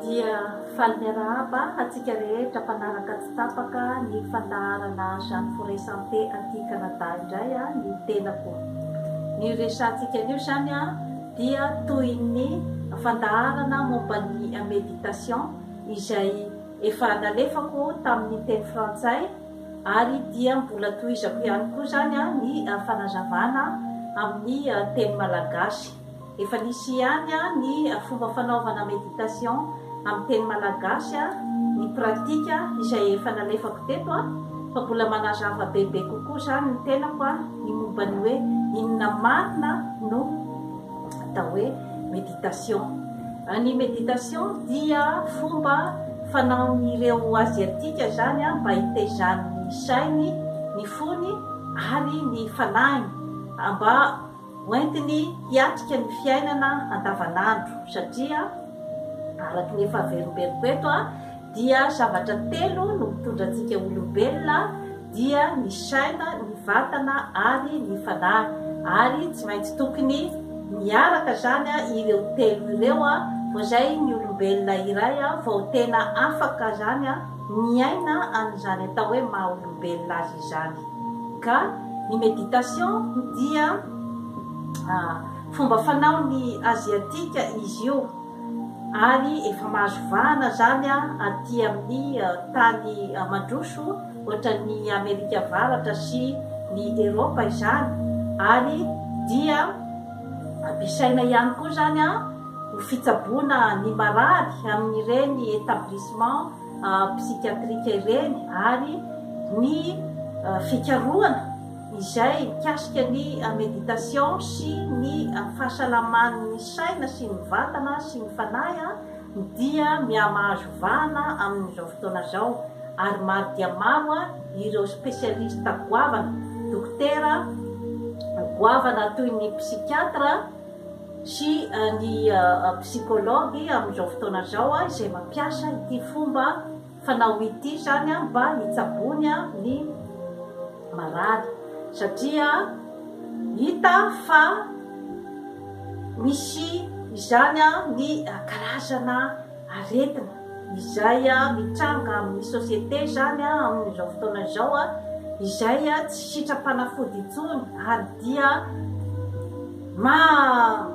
dia faly miarahaba antsika rehetra mpanaraka tsy tapaka ny fandaharana Jeanne Forêt Santé aty Canada indray a ny tenako. Ny resantsika anio izany a dia toy ny fandaharana momba ny méditation izay efa nalefako tamin'ny teny frantsay Ary dia mbola tohizako ihany koa izany ny fanazavana amin'ny teny malagasy. Efa nisy ihany ny fomba fanaovana méditation amin'ny teny malagasy, ny pratique izay efa nalefako teto, fa mbola manazava bebe kokoa izany ny tenako ny momba ny hoe inona marina no. atao hoe méditation. Ny méditation dia fomba fanaon'ireo Aziatika izany mba hitaizan'ny sainy, ny fony ary ny fanahiny mba hoentiny hiatrika ny fiainana andavanandro satria araka ny efa averimberiko eto dia zavatra telo no mitondra antsika olombelona, dia ny saina, ny vatana ary ny fanahy ary tsy maintsy tokony miaraka zany ireo telo ireo vao izay ny olombelona iray vao tena afaka zany miaina an'izany atao hoe maha olombelona azy izany ka ny meditation dia fomba fanaon'ny aziatika izy io ary efa mahazo vahana zany aty amin'ny tany mandroso ohatran'ny Amerika Avaratra sy ny Eropa izany ary dia ampiasaina ihany koa izany ho fitsaboana ny marary amin'ireny établissement psychiatrique ireny ary ny fikarohana izay mikasika ny méditation sy ny fahasalaman'ny saina sy ny vatana sy ny fanahy dia mihamahazo vahana amin'izao fotoana izao ary maro dia maro ireo spesialista goavana, dokotera goavana toy ny psikiatra sy ny psikology amin'izao fotoana izao izay mampiasa ity fomba Fa na ho ity izany an mba hitsabony an ny marary satria hita fa misy izany an ny karazana aretina izay mitranga amin ny société izany an amin izao fotoana izao an izay an tsy sitram-panafody intsony ary dia maha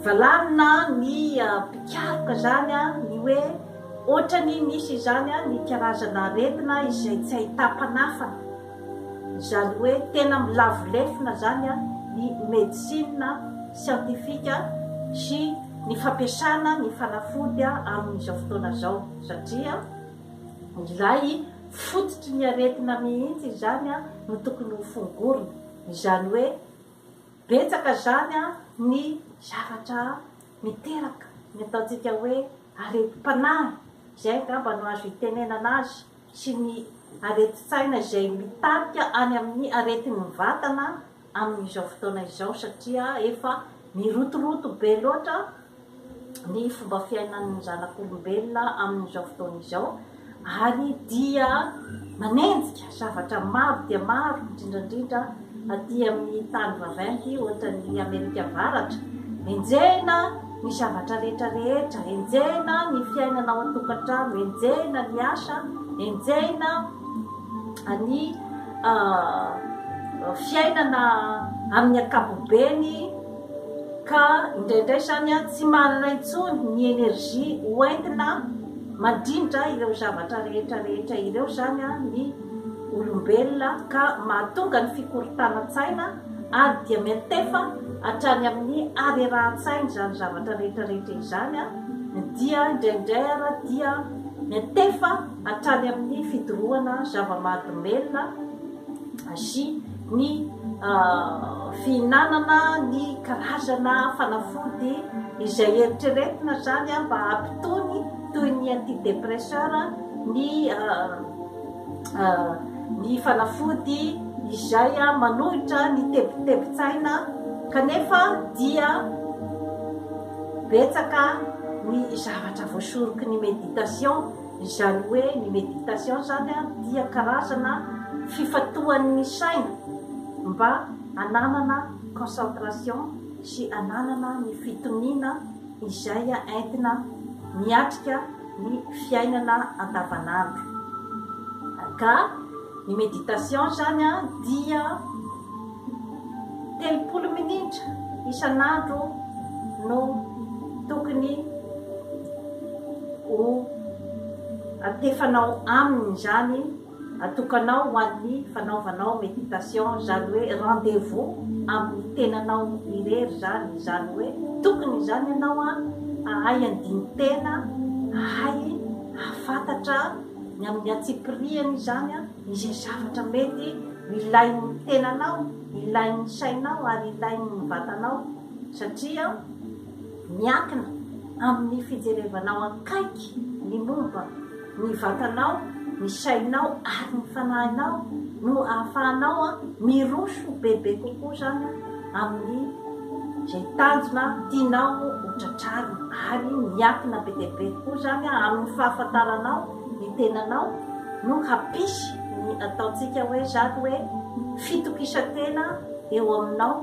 valanina ny mpikaroka izany an ny hoe Ohatrany misy izany an ny karazana aretina izay tsy ahitam-panafana, izany hoe tena milavo lefona izany an ny medecine scientifique sy ny fampiasana ny fanafody amin'izao fotoana izao satria ilay fototry ny aretina mihitsy izany an no tokony ho fongorina, izany hoe betsaka izany an ny zavatra miteraka ny ataontsika hoe aretim-panahy izay angamba no azo itenenana azy sy ny aretin-tsaina izay mitarika any amin'ny aretin'ny vatana amin'izao fotoana izao satria efa mirotoroto be loatra ny fomba fiainan'ny zanak'olombelona amin'izao fotoana izao ary dia manenjika zavatra maro dia maro indrindra indrindra aty amin'ny tany vaventy ohatra ny Amerika Avaratra. Enjehina ny zavatra rehetra rehetra, enjehina ny fiainana ao an-tokantrano, enjehina ny asa, enjehina ny fiainana amin'ny ankapobeny. ka indraindray zany an tsy manana intsony ny energie ho entina mandrindra ireo zavatra rehetra rehetra ireo zany an ny olombelona ka mahatonga ny fikorontanan-tsaina ary dia miantefa hatrany amin'ny harerahan-tsaina izany zavatra rehetra rehetra izany an dia indraindray ara dia miantefa hatrany amin'ny fidorohana zava-mahadomelina sy ny fihinanana ny karazana fanafody izay eritreretina izany mba hampitony toy ny antidépresseur ny ny fanafody izay manohitra ny tebitebin-tsaina kanefa dia betsaka ny zavatra voasoroky ny méditation Izany hoe ny méditation zany dia karazana fifantohan'ny saina mba ananana concentration sy ananana ny fitoniana izay entina miatrika ny fiainana andavanandro. Ka ny méditation zany dia. Telopolo minitra isan'andro no tokony ho antefanao aminy izany, atokanao ho an'ny fanaovanao méditation, izany hoe rendez-vous amin'ny tenanao irery izany, izany hoe tokony izany ianao hahay handini-tena, hahay hahafantatra ny amin'ny antsipirihany izany. izay zavatra mety ilain'ny tenanao, ilain'ny sainao ary ilain'ny vatanao satria miankina amin'ny fijerevanao akaiky ny momba ny vatanao, ny sainao ary ny fanahinao no ahafahanao miroso bebe kokoa izany amin'ny izay tanjona tianao ho tratrarina ary miankina be dia be kokoa izany amin'ny fahafantaranao ny tenanao no hampisy ny ataontsika hoe zany hoe fitokisan-tena eo aminao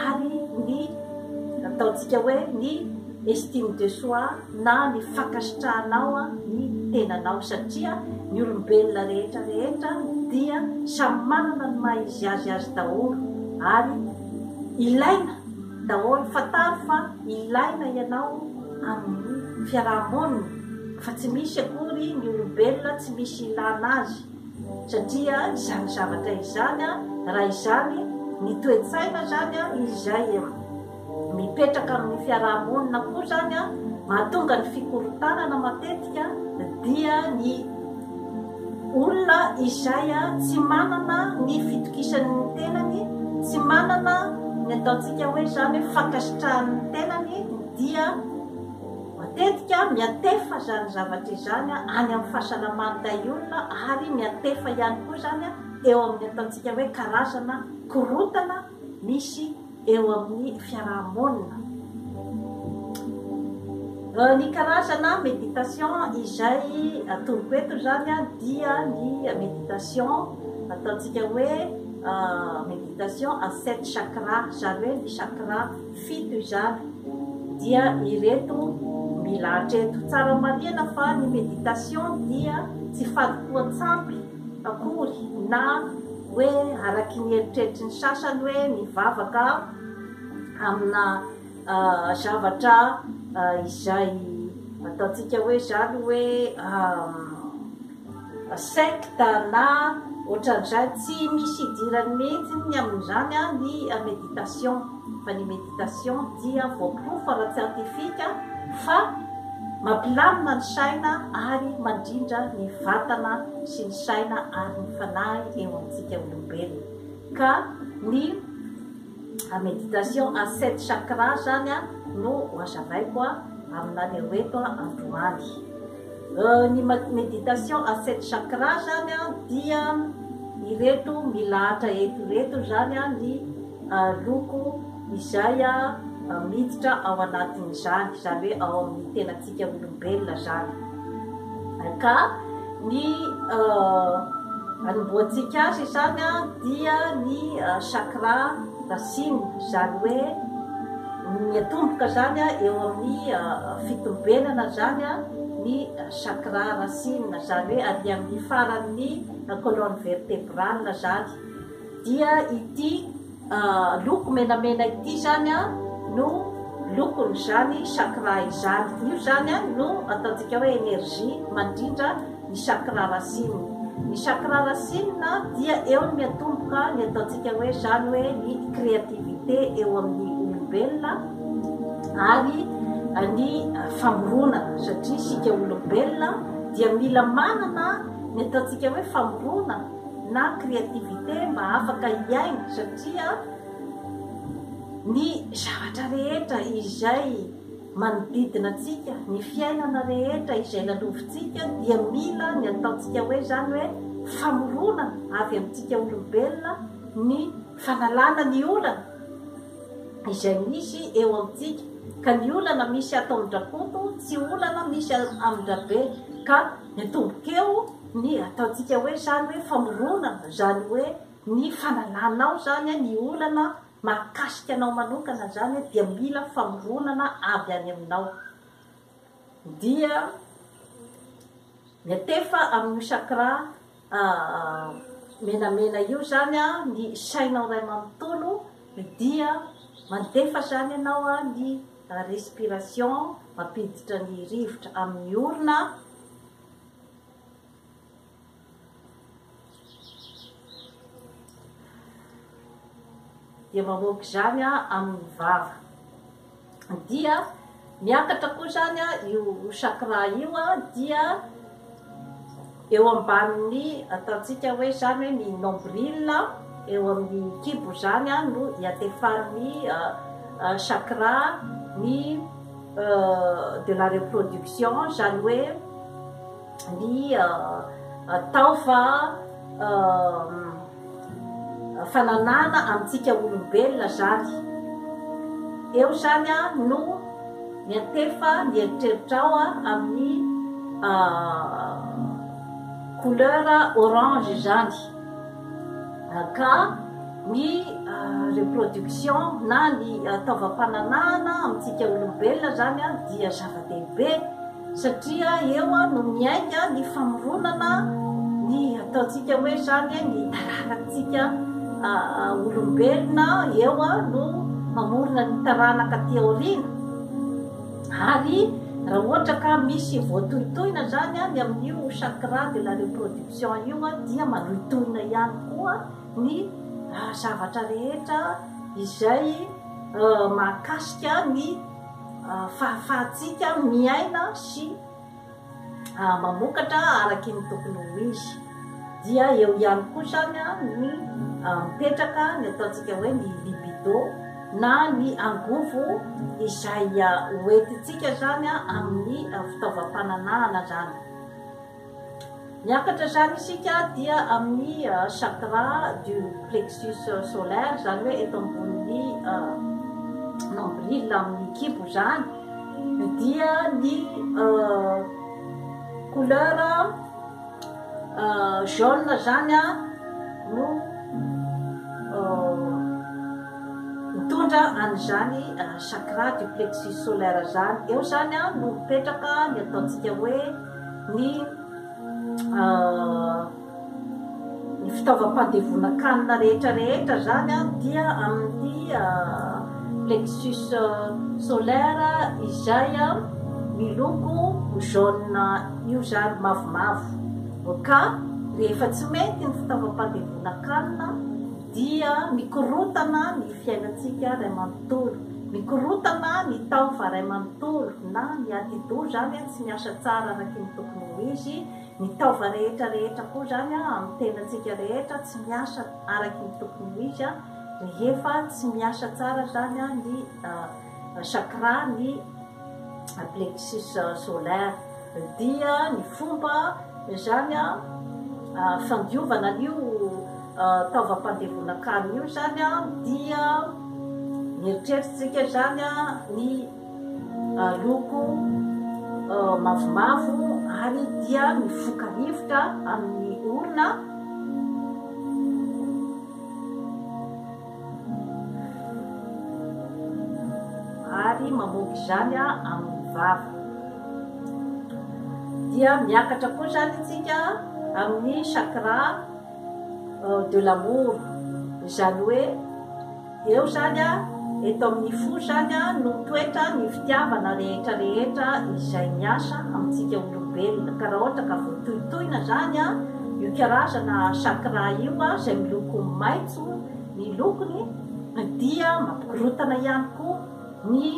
ary ny ataontsika hoe ny estime de soi na ny fankasitrahanao ny tenanao satria ny olombelona rehetra rehetra dia samy manana ny maha izy azy azy daholo ary ilaina daholo, fantaro fa ilaina ianao amin'ny fiaraha-monina fa tsy misy akory ny olombelona tsy misy ilana azy satria izany zavatra izany a raha izany ny toe-tsaina zany a izay mipetraka amin'ny fiaraha-monina koa zany a mahatonga ny fikorontanana matetika dia ny Olona izay tsy manana ny fitokisany ny tenany, tsy manana ny ataontsika hoe izany hoe fankasitrahany ny tenany dia matetika miantefa izany zavatra izany any amin'ny fahasalaman'ny tahiolona ary miantefa ihany koa izany eo amin'ny ataontsika hoe karazana korontana misy eo amin'ny fiaraha-monina. Ny karazana méditation izay atoroko eto izany dia ny méditation ataontsika hoe méditation à sept chakra, izany hoe ny chakra fito izany dia ireto milahatra eto. Tsara marihina fa ny méditation dia tsy fanompoan-tsampy. akory na hoe araky ny eritreritry ny sasany hoe mivavaka amina zavatra izay ataontsika hoe izany hoe secte na ohatran'izay, tsy misy idirany mihitsy ny amin'izany ny méditation. Fa ny méditation dia voaporofo ara-tsiantifika fa mampilamina ny saina ary mandrindra ny vatana sy ny saina ary ny fanahy eo amintsika olombelona. Ka ny méditation à sept chakras zany no hoazavaiko aminareo eto androany. Ny méditation à sept chakras zany dia ireto milahatra eto ireto zany ny Aloko izay aho miditra ao anatin'izany, izany hoe ao amin'ny tenantsika olombelona izany. Ka ny anombohantsika azy izany dia ny chakra racine, izany hoe ny atomboka izany eo amin'ny fitombenana izany ny chakra racine, izany hoe ary amin'ny faran'ny colonne vertébrale izany. dia ity loko menamena ity zany no lokon'izany chakra izany, io zany no ataontsika hoe energie mandrindra ny chakra racine, ny chakra racine dia eo no miatomboka ny ataontsika hoe zany hoe ny créativité eo amin'ny olombelona ary ny famorona satria isika olombelona dia mila manana ny ataontsika hoe famorona na créativité mba afaka hiaina satria ny zavatra rehetra izay manodidina antsika ny fiainana rehetra izay lalovintsika dia mila ny ataontsika hoe zany hoe famorona avy amintsika olombelona ny fanalana ny olana izay misy eo amintsika ka ny olana misy ato amin-drakoto tsy olana misy amin-drabe ka ny tombokeo ny ataontsika hoe zany hoe famoronana zany hoe ny fanananao zany a ny olana mahakasika anao manokana zany a dia mila famoronana avy any aminao dia miatefa amin'io sakra menamena io zany a ny sainao ray manontolo dia mandefa zany ianao a ny respiration mampiditra ny rivotra amin'ny orona dia mamoaka izany amin'ny vava. Dia miakatra koa izany io chakra io dia eo ambanin'ny ataontsika hoe izany hoe ny nombril eo amin'ny kibo izany no iatefarin'ny chakra ny de la reproduction zany hoe ny taofa fananana amintsika olombelona zany eo zany a no miantefa ny eritreritrao a amin'ny couleur orange zany ka ny reproduction na ny taovam-pananahana amintsika olombelona izany dia zava-dehibe satria eo no miainga ny famoronana ny ataontsika hoe izany ny taranatsika olombelona eo no mamorona ny taranaka aty aoriana ary raha ohatra ka misy voatohitohina izany any amin'io chakra de la reproduction Jean io dia manohintohina ihany koa ny zavatra rehetra izay mahakasika ny fahafahantsika miaina sy mamokatra araky ny tokony ho izy. Dia eo ihany koa izany ny mipetraka ny ataontsika hoe ny libido na ny angovo izay hoentintsika izany amin'ny fitaovam-pananahana izany. Miakatra izany isika dia amin'ny chakra du plexus solaire, izany hoe eto ambonin'ny nombril amin'ny kibo izany, dia ny couleur jaune izany no mitondra an'izany chakra du plexus solaire izany, eo izany no mipetraka ny ataontsika hoe. ny ny fitaovam-pandevonan-kanina rehetra rehetra zany an dia amin'ny plexus solaire izay an miloko jaune io zany mavomavo ka rehefa tsy mety ny fitaovam-pandevonan-kanina Dia mikorontana ny fiainantsika ray manontolo, mikorontana ny tao fa ray manontolo na ny atidoha zany tsy miasa tsara araky ny tokony ho izy, ny taova rehetra rehetra koa zany amin'ny tenantsika rehetra tsy miasa araky ny tokony ho izy rehefa tsy miasa tsara zany ny chakra ny plexus solaire dia ny fomba zany fandiovana an'io taovam-pandevonan-kanina io zany dia mieritreritsika zany ny loko mavomavo ary dia mifoka rivotra amin'ny olona ary mamoaka izany amin'ny vava dia miakatra koa izany isika amin'ny chakra euh, de l'amour izany hoe eo izany a eto amin'ny fo izany a no toetra ny fitiavana rehetra rehetra izay miasa amintsika olombelona ka raha ohatra ka voatohitohina izany a io karazana chakra io a izay miloko maitso ny lokony dia mampikorontana ihany koa ny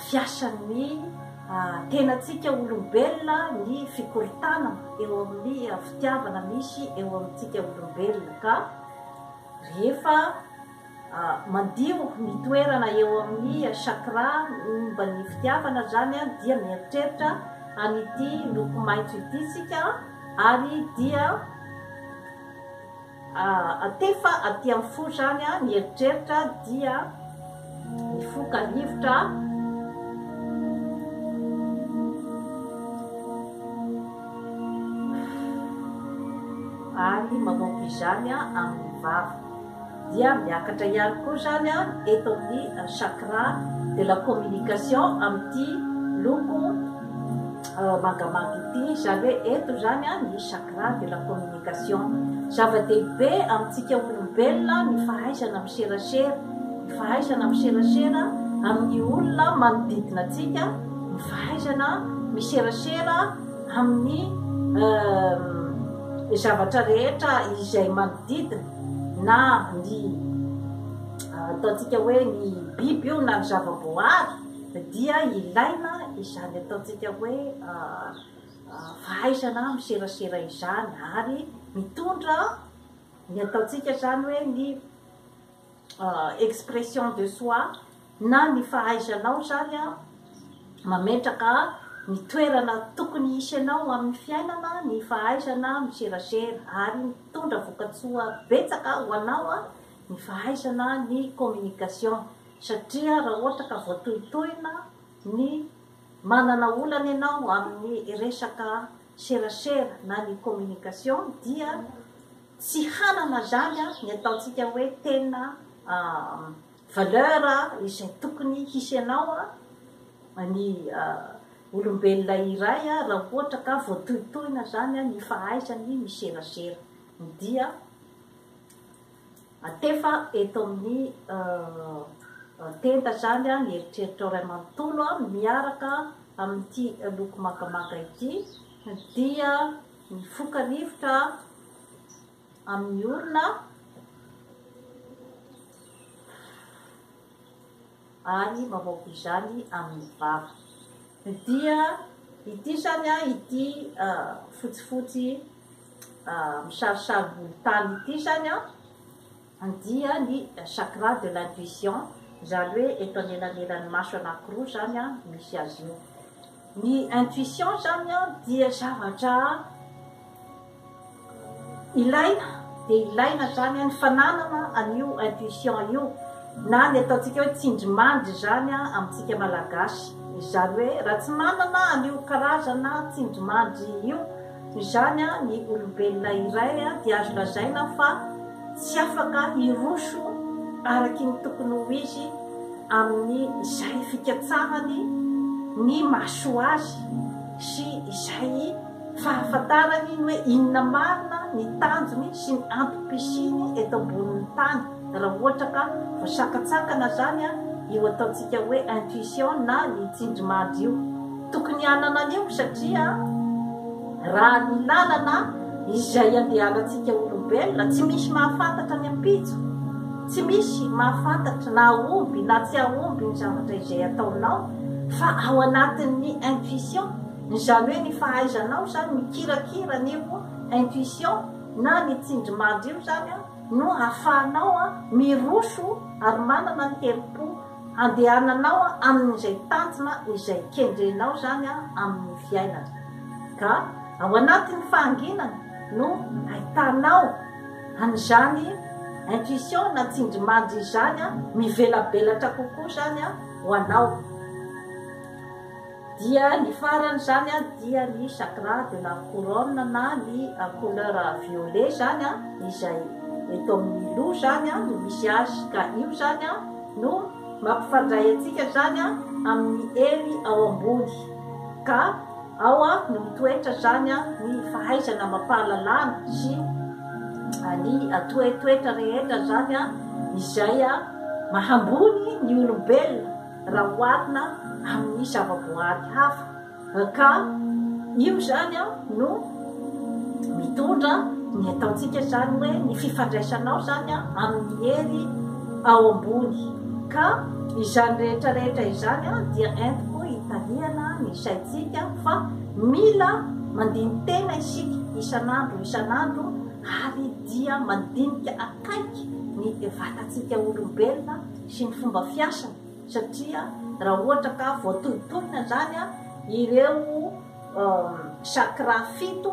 fiasan'ny tenantsika olombelona ny fikorontanana eo amin'ny fitiavana misy eo amintsika olombelona ka rehefa Madio ny toerana eo amin'ny chakra momba ny fitiavana zany dia mieritreritra an'ity loko maitso ity isika ary dia atefa aty amin'ny fo zany ny eritreritra dia mifoka rivotra ary mamoaka izany amin'ny vava. dia miakatra ihany koa izany eto amin'ny chakra de la communication amin'ity loko mangamanga ity, izany hoe eto izany ny chakra de la communication. Zava-dehibe amintsika olombelona ny fahaizana miserasera, ny fahaizana miserasera amin'ny olona manodidina antsika, ny fahaizana miserasera amin'ny zavatra rehetra izay manodidina. na ny ataontsika hoe ny biby io na ny zava-boahary dia ilaina izany ataontsika hoe fahaizana miserasera izany ary mitondra ny ataontsika izany hoe ny expression de soi na ny fahaizanao zany mametraka ny toerana tokony hisy anao amin'ny fiainana ny fahaizana miserasera ary mitondra vokatsoa betsaka ho anao ny fahaizana ny communication satria raha ohatra ka voatohitohina ny manana olana ianao amin'ny resaka serasera na ny communication dia Tsy hanana zany an ny ataontsika hoe tena valeur izay tokony hisy anao an ny olombelona iray raha ohatra ka voatohitohina zany an ny fahaizany miserasera dia atefa eto amin'ny tenda zany an ny eritreritrao ray manontolo an miaraka amin'ity loko mangamanga ity dia mifoka rivotra amin'ny orona ary mamoaka izany amin'ny vava. Dia ity izany a, ity ah, fotsifotsy ah, misarisary volontany ity izany a, Handia ny chakra de l'intuition izany hoe eto anelanelan'ny maso anankiroa izany misy azy io. Ny intuition izany dia zavatra ilaina dia ilaina izany ny fananana an'io intuition io na ny ataontsika hoe tsindrimandry izany amintsika malagasy. Izany hoe raha tsy manana an'io karazana tsindrimandry io Noho izany, ny olombelona iray dia azo lazaina fa tsy afaka hiroso araky ny tokony ho izy amin'ny izay fikatsahany ny mahasoa azy sy izay fahafantarany ny hoe inona marina ny tanjony sy ny antom-pisiany eto ambonin'ny tany. Raha ohatra ka vao sakatsakana zany an, io ataontsika hoe intuition na ny tsindrimandry io, tokony hanana an'io satria raha ny lalana izay andehanantsika olombelona, tsy misy mahafantatra ny ampitso, tsy misy mahafantatra na hahomby na tsy hahomby ny zavatra izay ataonao fa ao anatin'ny intuition, izany hoe ny fahaizanao zany mikirakira an'io intuition na ny tsindrimandry io zany an, no ahafahanao miroso ary manana ny herim-po handehananao amin'izay tanjona izay kendrenao izany amin'ny fiainana. Ka ao anatin'ny fahanginana no ahitanao an'izany intuition na tsindrimandry izany mivelabelatra kokoa izany ho anao. Dia ny farany zany an dia ny chakra de la couronne na ny couleur violet zany an izay eto amin'ny loha zany an no misy azy ka io zany an no mampifandray antsika zany an amin'ny hery ao ambony ka ao an no mitoetra zany an ny fahaizana mampahalalana sy ny toetoetra rehetra zany an izay an mahambony ny olombelona raha oharina amin'ny zavaboahary hafa, ka io izany no mitondra ny ataontsika izany hoe ny fifandraisanao izany amin'ny hery ao ambony, ka izany rehetra rehetra izany dia entiko hitariana ny saintsika fa mila mandini-tena isika isan'andro isan'andro ary dia mandinika akaiky ny vatantsika olombelona, sy ny fomba fiasany satria raha ohatra ka voatohintohina zany an ireo chakra fito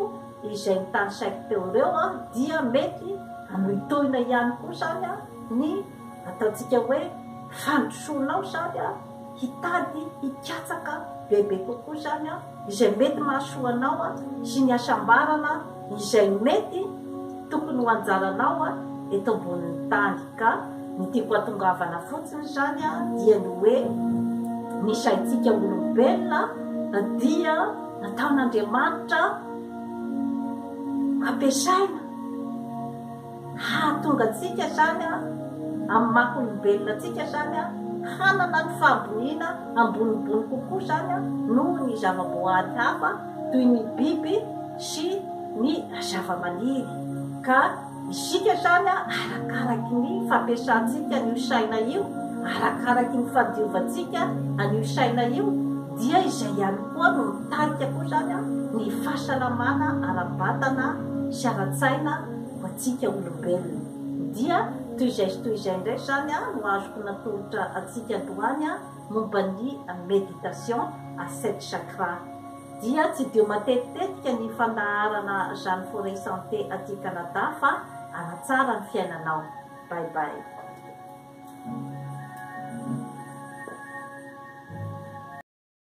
izay notanisaiko teo ireo an dia mety hanohintohina ihany koa zany an ny ataontsika hoe fandrosoanao zany an hitady hikatsaka bebe kokoa zany an izay mety mahasoa anao sy ny hasambarana izay mety tokony ho anjaranao eto ambonin'ny tany. Ka ny tiako hatongavana fotsiny izany dia ny hoe ny saintsika olombelona dia nataon'Andriamanitra ampiasaina. hahatonga antsika hatrany amin'ny maha olombelona antsika hatrany hanana ny fahaboniana ambonimbony kokoa izany noho ny zava-boahary hafa toy ny biby sy ny zavamaniry ka isika hatrany arakaraky ny fampiasantsika an'io saina io, arakaraky ny fandiovantsika an'io saina io dia izay ihany koa no mitarika koa izany ny fahasalamana ara-batana sy ara-tsaina. ho antsika olombelona. Dia toy izay sy toy izay indray izany no azoko natolotra antsika androany momba ny méditation à sept chakras. Dia tsy dia matetitetika ny fandaharana Jeanne Forest Santé aty Canada fa hanatsara ny fiainanao. Bye bye.